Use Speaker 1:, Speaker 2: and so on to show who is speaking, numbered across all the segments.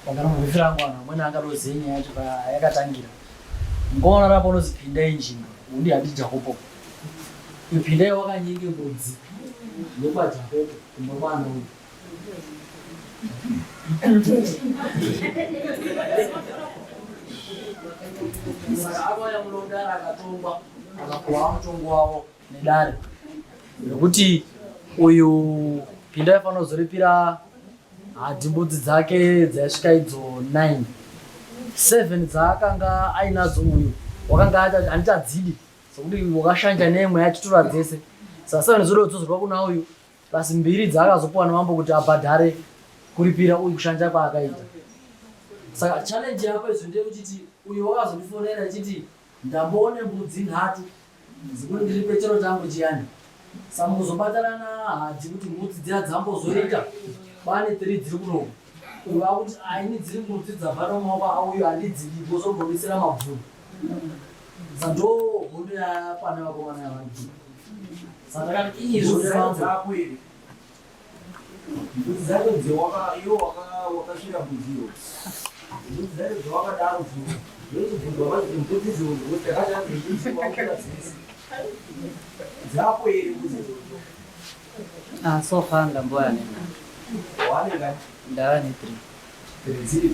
Speaker 1: Pangana mubifi rangu vanhu vamweni angadozive nyaya yacho payakatangira ngoona rapo unozipinda injinga undi handi jakopo ipinda iye wakanyenge mbudzi yekwajakopo kumba kwana uyu saka avo yamulondara akatongwa akakuwa mutongo wavo nedare nekuti uyu pinda aifanira kuzoripira hadhi mbudzi dzake dzaisvika idzo 9 7 dzaakanga ainadzo uyu wakanga handiti adzidi sokuti wakashanja neimwe yachitora dzese saka seven zoda kudzozerwa kuna uyu plus mbiri dzaakazopiwa namambo kuti abhadhare kuripira uyu kushanja kwaakaita saka challenge yako izvo ndeyekuchiti uyo wakazotifonera chiti Ndamboone mbudzi nhatu dzikuti ndiripe chero changu chiyani samukuzobatana nahadzi kuti mbudzi dziya dzambozoita pane tiri dziri kunoku kureva kuti aini dziri mbudzi dzabva nomaoko auyo handidzidi bozombomisira mabvuru sando hondo yakwana vakomana yavanhu sandakati izvo zvakuiri Ah, so far ndamboya
Speaker 2: nena.
Speaker 1: Ndava ne
Speaker 2: three.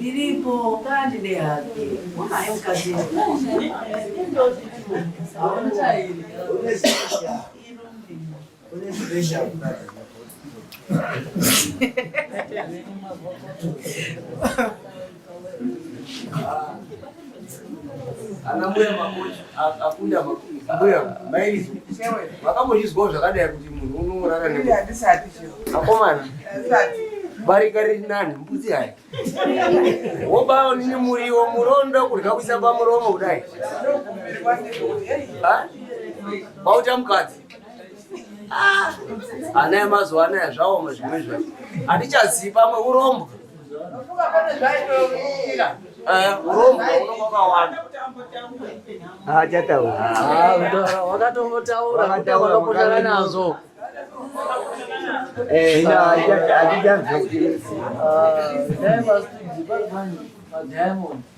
Speaker 3: Ndiripo kandi ndehake unaye mukadzi
Speaker 1: ana mbuya makochi akunda mbuya mairizo vakambozvizwawo zvakadai kuti munhu unorara ne akomana barika riri nani mbudzi hai wobawo nini muriwo murondo kurya kuisa pamuromo kudai wauta mukadzi ah, ana emazuva anaya zvaoma zvimwe zvacho hatichazivi pamwe urombwa wakatombotaura
Speaker 2: nazvo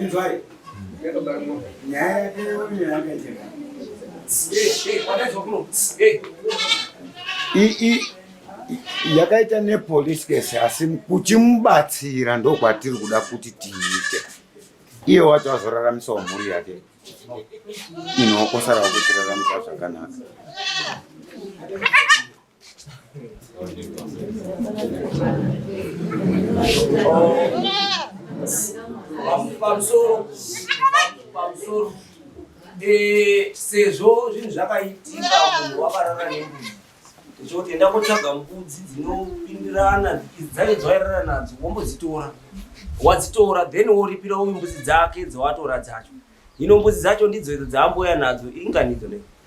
Speaker 4: Inzwai. Nyaya yake yoyo yakaiteka. Yakaita nepolice case asi kuchimubatsira ndokwatiri kuda kuti tiite. Iye wacho azoraramisawo mhuri yake. Ino kosara kuchiraramisa zvakanaka.
Speaker 1: pamusoro pamusoro eh, sezvo zvinhu zvakaitika munhu wakarara nembudzi ndichoti enda kotsvaga mbudzi dzinopindirana dzaive dzairara nadzo wombodzitora wadzitora then woripira uyu mbudzi dzake dzawatora dzacho hino mbudzi dzacho ndidzo idzo dzaamboya nadzo inganidzo nei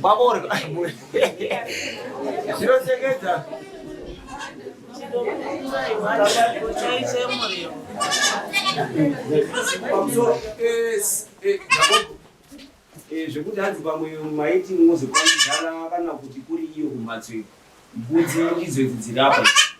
Speaker 1: Baborga. Sino seketa.
Speaker 5: zvekuti hanzi pamwe maiti mwozokwanidzana kana kuti kuri iyo kumhatso iyo mbudzi ndidzo idzi dzirapa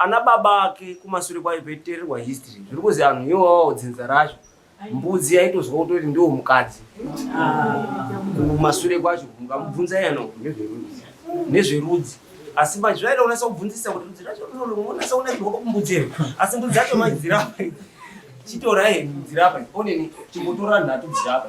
Speaker 5: ana baba ake kumasure kwayo paitererwa history zviri kuzi anhu iwo wawawo dzinza racho mbudzi yaitozwa kutoti ndiwo mukadzi kumasure kwacho mukamubvunza yano nezverudzi nezverudzi asi manje zvaida kunasa kubvunzisa kuti rudzi racho unonasa kunakirwa kumbudzi ere asi mbudzi yacho manje dzirapa chitorai dzirapa oneni chimbotora nhatu dzirapa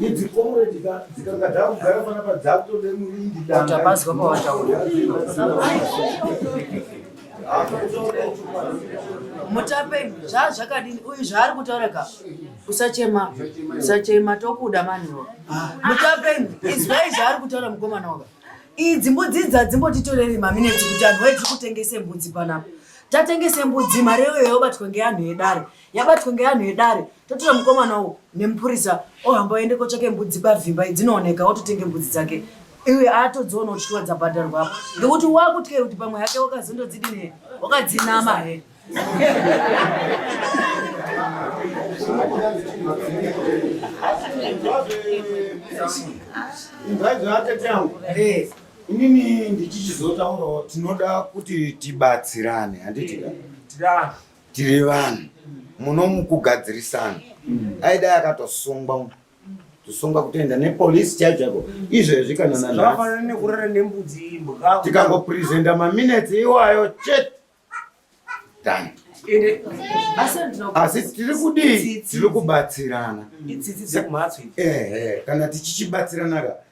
Speaker 6: idzi
Speaker 7: comrade dzikangada kugara panapa dzakutode murindi dangaabazwa pawataura
Speaker 3: mutape zva zvakadini uyu zvaari kutaura ka usachema usachema tokuda maniwo mutape izwai zvaari kutaura mukomana waka idzi mbudzi dza dzimbotitoreri mamineti kuti anhu waidzi kutengese mbudzi panapa tatengese mbudzi mari yoyo yobatwa ngeanhu edare yabatwa ngeanhu edare totora mukomana uwu nemupurisa ohamba oende kotsvake mbudzi pavhimba idzinooneka ototenge mbudzi dzake iwe aatodziona uchitiwa dzabhadharwa apo ngekuti wakutyai kuti pamwe hake wakazondodzidini he wakadzinama he
Speaker 4: inini ndichichizotaurawo tinoda kuti tibatsirane handiti tiri vanhu muno mukugadzirisana mm. aidai akatosungwa mu kusungwa kutoenda nepolisi chaiyo chaiko izvezvi kana nanhaafanana nekurara
Speaker 5: nembudzi imbwa tikangopresenta
Speaker 4: maminutes iwayo chete done asi tiri kudii tiri kubatsirana
Speaker 5: ehe kana
Speaker 4: tichichibatsiranaka